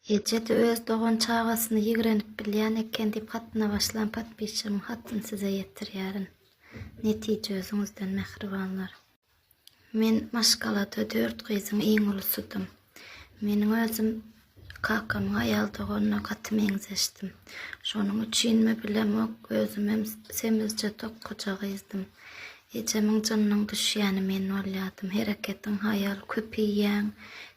Eje-de öz dogan çagasyny ýigrenip bilýän eken diýip hatyna başlan podpisçigiň hatyny size ýetirýärin. Netije özüňizden mähribanlar. Men maşgalada dört gyzyň iň ulusydym. Meniň özüm kakamyň aýal doganyna gaty meňzeşdim. Şonuň üçinmi bilemok, özümem semizje tokguja gyzdym. Ejemiň jynynyň düşýäni men bolýardym. Hereketiň haýal, köp iýýäň,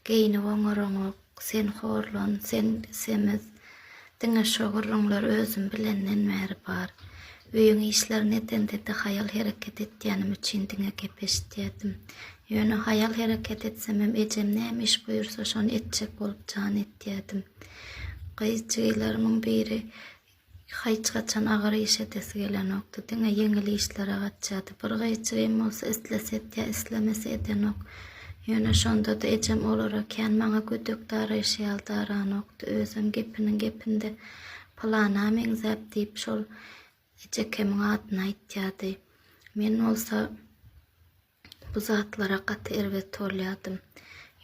geýnip oňaryňok. Sen horlan, sen semiz. Diňe şo gürrüňler özüm bilenden bäri bar. Öýüň işlerini edende-de haýal hereket etýänim üçin diňe gep eşitýärdim. Ýöne haýal hereket etsemem ejem näme iş buýursa şony etjek bolup jan etýärdim. Gyz-jigileriňiň biri Hiç haçan agyr iş edesi gelenokdy. Diňe ýeňil işlere gaçýardy. Bir gyýçygym bolsa islese etýär, islemese edenok. Ýöne şonda-da ejem olara kän maňa gödek daraýşy ýaly daranokdy. Özem gepiniň gepinde Pylana meňzäp diýip şol ejekemiň adyny aýtýardy. Men bolsa. Bu zatlara gaty erbet bolýardym.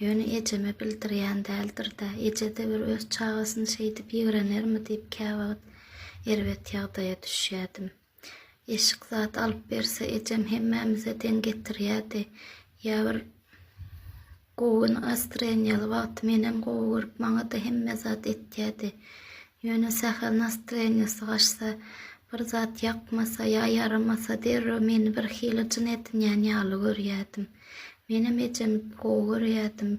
Ýöne ejeme bildirýän däldir-dä. Eje-de bir öz çagasyny şeýdip ýigrenermi diýip käwagt erbet ýagdaýa düşýärdim. Eşik zat alyp berse ejem hemmämize deň getirýärdi. Ýa bir Gowy gün Astren ýaly wagty menem gowy görüp maňada hemme zat etýädi. Ýöne sähel nastrenýosy gaçsa, bir zat ýakmasa ýa ýaramasa derrew meni bir hili jyn edinýän ýaly görýädim. Menem ejemi gowy görýädim.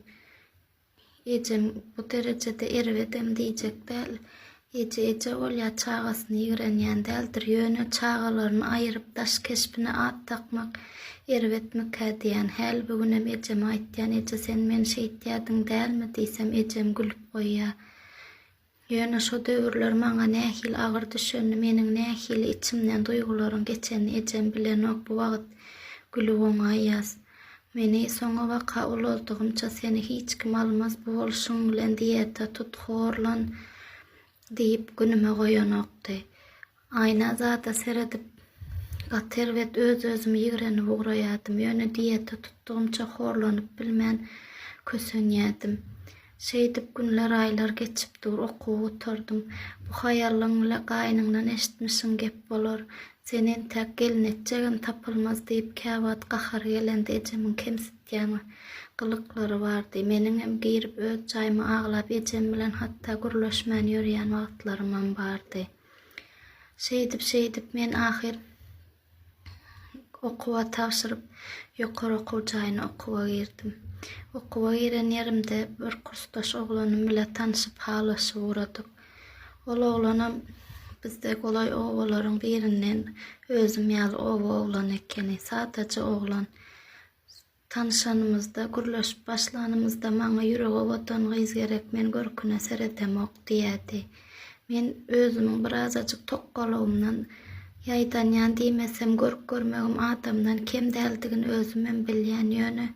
Ejem bu derejede erbedem diýjek däl. Eje eje bolýar, çagasyny ýigrenýän däldir, ýöne çagalaryny aýyryp daş keşbine at dakmak erbetmikä diýýän. Häli-bu günem ejeme aýtýan, Eje, sen meni şeýtýärdiň dälmi? diýsem, ejem gülüp goýýar. Ýöne şo döwürler maňa nähili agyr düşenini, meniň nähili içimden duýgularyň geçenini ejem bilenok, bu wagt gülüp oňaýýas. Meni soňa waka ulaltygymça seni hiç kim almaz bu bolşuň bilen diýeta tut horlan diýip günüme goýanokdy. Aýna zada seredip gaty erbet öz özümi ýigrenip ugraýadym ýöne diýeta tutdygymça horlanyp bilmän kösenýädim. Şeýdip günler aýlar geçip dur okuw gutardym. Bu haýallyň bile gaýynyňdan eşitmişiň gep bolar. Sen entäk gelin etjegem tapylmaz diýip käwagt gahary gelende ejemiň kemsitýän gylyklary bardy. Meniňem girip öz jaýyma aglap ejem bilen hatda gürleşmän ýörýän wagtlarymam bardy. Şeýdip şeýdip men ahyr. Okuwa tabşyryp, ýokary okuw jaýyna okuwa girdim. Okuwa giren ýerimde bir kursdaş oglanym bile tanşyp halaşyp ugradyk. Ol oglanam bizde golaý obalaryň birinden özüm ýaly oba oglany ekeni. Sadaja oglan. Tanyşanymyzda, gürleşip başlanymyzda maňa ýüregi owadan gyz gerek, men görküne seredemok diýýärdi. Men özümiň birazajyk tokgalygymdan ýaýdanýan diýmesem, görk görmegim adamdan kem däldigini özümem bilýän, ýöne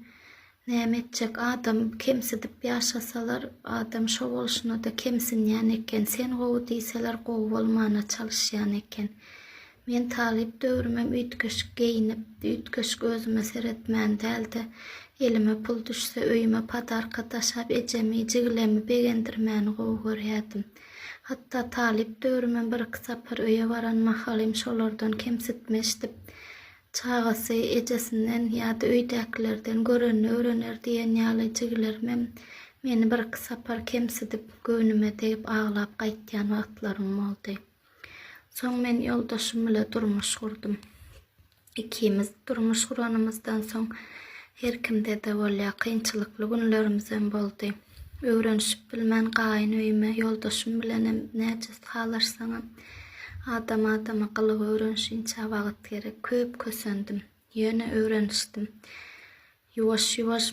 näme etjek, adamy kemsidip ýaşasalar, adam şo bolşuna-da kemsinýän eken, sen gowy diýseler gowy bolmana çalyşýan eken. Men talyp döwrümem üýtgeşik geýinip, üýtgeşik özüme seretmän däl-de, elime pul düşse, öýüme padarka daşap, ejemi, jiglemi begendirmäni gowy görýärdim. Hatda talyp döwrümem bir-iki sapar öýe baran mahalym şolardan kemsitme eşidip, Çagasy ejesinden ýa-da öýdäkilerden görenini öwrener diýen ýaly jiglerimem meni bir-iki sapar kemsidip, göwnüme degip aglap gaýtýan wagtlarym boldy. Soň men ýoldaşym bile durmuş gurdum. Ikimiz durmuş guranymyzdan soň her kimde-de bolýa kynçylykly günlerimizem boldy. Öwrenişip bilmän gaýyn öýüme ýoldaşym bilenem näce salaşsaňam adam adama gylyk öwrenişinçä wagyt gerek. Köp kösendim. Ýöne öwrenişdim. Ýuwaş ýuwaş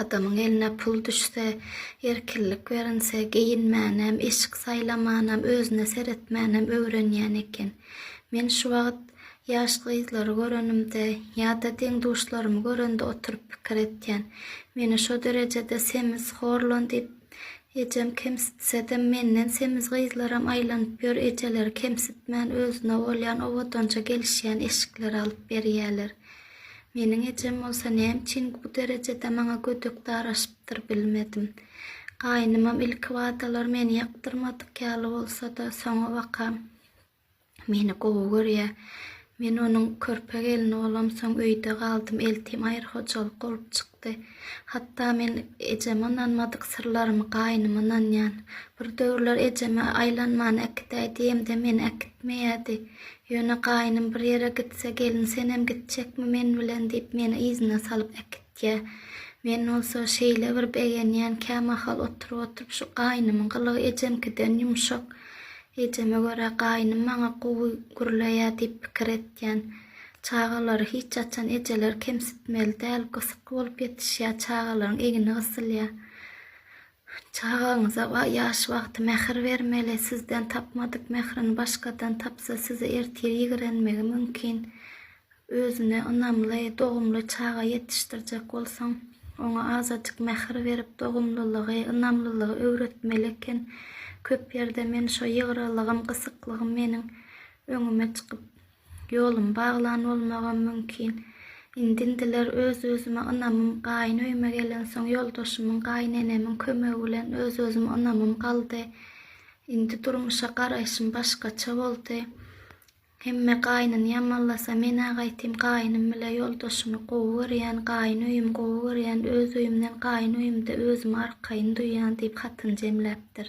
Adamyň eline pul düşse, erkinlik berinse, geýinmänem, eşik saýlamanam, özüne seretmänem öwrenýän eken. Men şu wagt ýaş gyzlary görenimde ýa-da deň-duşlarymy görende oturyp pikir etýän. Meni şo derejede semiz, horlan diýip, ejem kemsitsedem, menden semiz gyzlaram aýlanyp ýör, ejeleri kemsitmän, özüne bolýan owadanja gelişýän eşikleri alyp berýäler. Meniň ejem bolsa näme üçin bu derejede maňa gödek daraşypdyr, bilmedim. Gaýynymam ilkibadalar meni ýakdyrmadyk ýaly bolsa-da, soňabaka meni gowy görýär. Men onuň körpe gelni bolamsoň öýde galdym, eltim aýry hojalyk bolup çykdy. Hatda men ejeme ynanmadyk syrlarymy gaýynyma ynanýan. Bir döwürler ejeme aýlanmany äkidäý diýemde meni äkitmeýärdi. Ýöne gaýnym bir ýere gitse, Gelin, senem gitjekmi men bilen? diýip, meni yzyna salyp äkitýär. Men bolsa şeýle bir begenýän, kämahal oturyp-oturyp şu gaýnymyň gylygy ejemkiden ýumşak. Ejeme görä gaýnym maňa gowy gürleýär diýip pikir etýän. Çagalary hiç haçan ejeler kemsitmeli däl, gysyk bolup ýetişýär, çagalaryň egni gysylýar. Çagaňyza ba ýaş wagty mähir bermeli, sizden tapmadyk mährini başgadan tapsa sizi ertir ýigrenmegi mümkin. Özüne ynamly, dogumly çaga ýetişdirjek bolsaň, oňa azajyk mähir berip, dogumlylygy, ynamlylygy öwretmeli eken. Köp ýerde men şo ýygralygym, gysyklygym meniň öňüme çykyp, Ýolum baglan bolmagam mümkin. Indindiler öz-özüme ynamym Gaýyn öýüme gelensoň ýoldaşymyň, gaýynenemiň kömegi bilen öz-özüme ynamym galdy. Indi durmuşa garaýşym başgaça boldy. Hemme gaýnyny ýamanlasa men-ä gaýtym gaýynym bile ýoldaşymy gowy görýän, gaýyn öýümi gowy görýän, öz öýümden gaýyn öýümde özümi arkaýyn duýýan diýip hatyny jemläpdir.